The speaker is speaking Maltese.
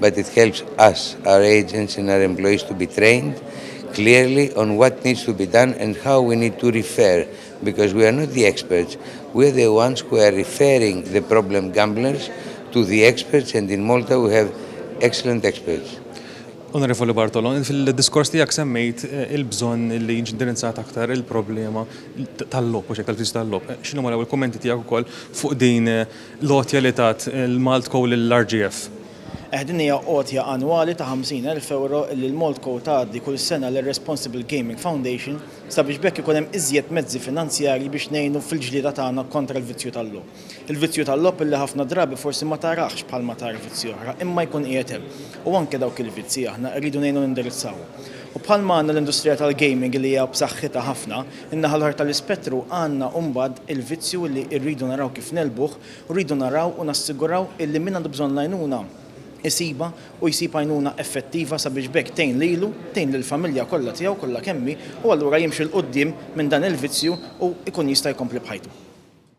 but it helps us, our agents and our employees to be trained clearly on what needs to be done and how we need to refer because we are not the experts, we are the ones who are referring the problem gamblers to the experts and in Malta we have excellent experts. Onorevoli Bartolo, fil-diskors tiegħek semmejt eh, il-bżonn li jiġi indirizzat aktar il-problema tal-lob, u xek tal-fiż tal-lob. Eh, X'inhu maraw il-kummenti tiegħek ukoll fuq din eh, l-għotja li tat il-MaltCo lill-RGF. Eh, din hija għotja annwali ta' 50,000 ewro li l-MaltCo tgħaddi kull sena lir-Responsible Gaming Foundation sabiex b'hekk ikun hemm iżjed mezzi finanzjarji biex ngħinu fil-ġlieda tagħna kontra l-vizzju tal-logħob. Il-vizzju tal-logħob illi ħafna drabi forsi ma tarahx bħalma tara vizzji oħra, imma jkun qiegħed hemm. U anke dawk il-vizzji aħna rridu ngħinu nindirizzawhom. U bħalma għandna l-industrija tal-gaming li hija b'saħħitha ħafna, In-naħa l-oħra tal-ispettru għandna mbagħad il-vizzju li rridu naraw kif negħlbuh u rridu naraw u nassiguraw illi min għandu bżonn l-għajnuna jsibha u jsib għajnuna effettiva sabiex b'hekk tgħin lilu, tgħin lill-familja kollha tiegħu kollha kemm hi u allura jimxi 'l quddiem minn dan il-vizzju u jkun jista' jkompli b'ħajtu.